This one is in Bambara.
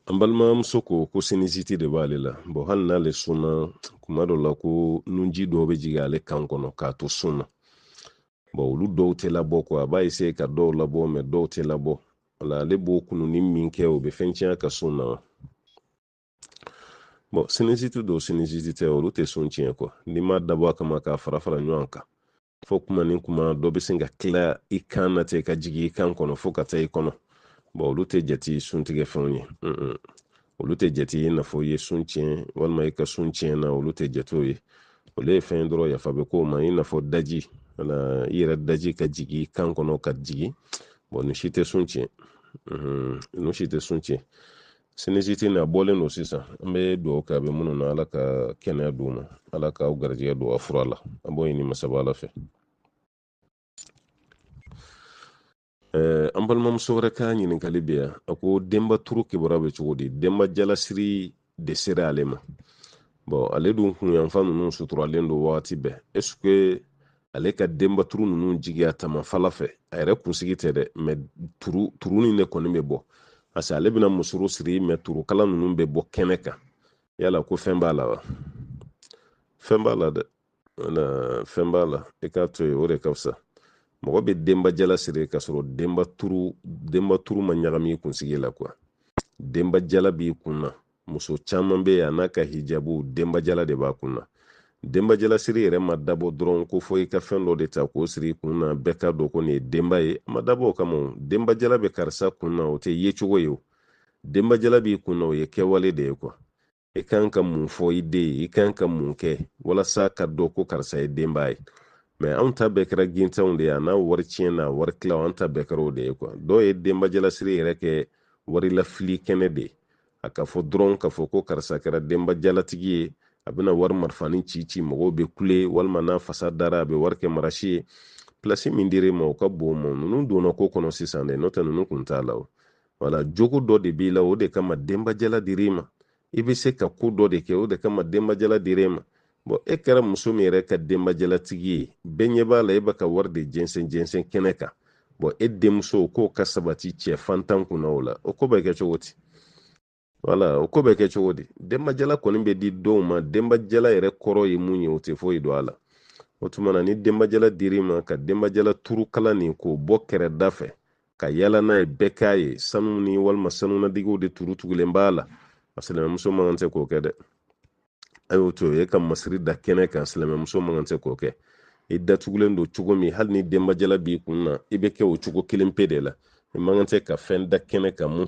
an balimamuso ko ko sinisiti de b'ale la bɔn hali n'ale sunna kuma dɔ la ko nunji dɔw bɛ jigin ale kan kɔnɔ k'a to sun na bɔn olu dɔw tɛ labɔ ko a b'a eseye ka dɔw labɔ mɛ dɔw tɛ labɔ wala ale b'o kununi min kɛ o bɛ fɛn tiɲɛ ka sun na wa bɔn sinisiti don sinisiti tɛ olu tɛ sun tiɲɛ kuwa n'i m'a dabɔ a kama k'a fara fara ɲɔgɔn kan fo kuma ni kuma dɔ bɛ sin ka tila i kan na ten ka jigin i kan kɔnɔ fo ka taa i kɔnɔ bɔn olu tɛ jate suntigɛ fɛnw ye olu tɛ jate i n'a fɔ i ye sun tiɲɛ walima i ka sun tiɲɛna olu tɛ jate o ye olu ye fɛn ye dɔrɔn yafa bɛ k'o ma i n'a fɔ daji wala i yɛrɛ daji ka jigin i kan kɔnɔ ka jigin bɔn nin si tɛ sun tiɲɛ ninnu si tɛ sun tiɲɛ sinisiti na bɔlen don sisan an bɛ dugawu kɛ a bɛ minnu na ala ka kɛnɛya d'u ma ala k'aw garijɛgɛ don a fura la an b'o ɲini masaba ala fɛ Eh, an balimamuso wɛrɛ ka ɲininkali bɛ yan a ko denba turu kibaruya bɛ cogo di denba jalasiri de sera ale ma bɔn ale dun kun yanfan ninnu suturalen don wagati bɛɛ ɛseke ale ka denbaturu ninnu jigin a tama fila fɛ a yɛrɛ kunsigi tɛ dɛ mɛ turunin de kɔni bɛ bɔ parce que ale bɛna musoro siri mɛ turukala ninnu bɛ bɔ kɛnɛ kan yala ko fɛn b'a la wa fɛn b'a la dɛ wala fɛn b'a la i k'a to yen o de ka fisa mɔgɔ bɛ denba jala siri k'a sɔrɔ denba turu ma ɲagami i kunsigi la kuwa denba jala b'i kun na muso caman bɛ yen a n'a ka hijabu denbajala de b'a kun na denbajalasiri yɛrɛ ma dabɔ dɔrɔn ko fo i ka fɛn dɔ de ta k'o siri kun na bɛɛ k'a dɔn ko nin ye denba ye a ma dabɔ o kama o denbajala bɛ karisa kun na o tɛ yecogo ye o denbajala b'i kun na o ye kɛwale de ye kuwa i kan ka mun fɔ i den ye i kan ka mun kɛ walasa k'a dɔn ko karisa ye denba ye mɛ anw ta bɛɛ kɛra gintanw de ye a n'a wari tiɲɛ n'a wari tilaw an ta bɛɛ kɛra o de ye kuwa dɔw ye denbajalasiri yɛrɛ kɛ warilafili kɛnɛ de ye a ka fɔ dɔrɔn k'a fɔ ko karisa kɛra denba jalatigi ye a bɛna wari marifanin ci ci mɔgɔw bɛ kule walima n'a fasa dara a bɛ wari kɛ marasi ye pilasi min dir'i ma o ka bon mɛ ninnu donna ko kɔnɔ sisan dɛ n'o tɛ ninnu kun t'a la o wala jogo dɔ de b'i la o de kama denbajala dir'i ma i bɛ se ka ko dɔ de kɛ o de kama denbajala dir'e ma bɔn e kɛra muso min yɛrɛ ka denbajalatigi ye bɛɛ ɲɛ b'a la e bɛ ka wari de jɛnsɛn jɛnsɛn kɛnɛ kan bɔn e denmuso k'o ka sabati cɛ fantan kunna o la o ko bɛ kɛ cogo di wala o ko bɛ kɛ cogo di denbajala kɔni bɛ di dɔw ma denbajala yɛrɛ kɔrɔ ye mun ye o tɛ foyi dɔn a la o tuma na ni denbajala dir'i ma ka denbajala turu kala nin k'o bɔ kɛrɛda fɛ ka yala n'a ye bɛɛ k'a ye sanu ni walima sanu ladegew de tugu tugulen b'a la a silamɛmuso man kan tɛ k'o kɛ dɛ a y'o to e ka masiri da kɛnɛ kan silamɛmuso man kan tɛ k'o kɛ i datugulen don cogo min hali ni denbajala b'i kun na i bɛ kɛ o cogo kelen pe de la i man kan tɛ ka fɛn da kɛnɛ kan mun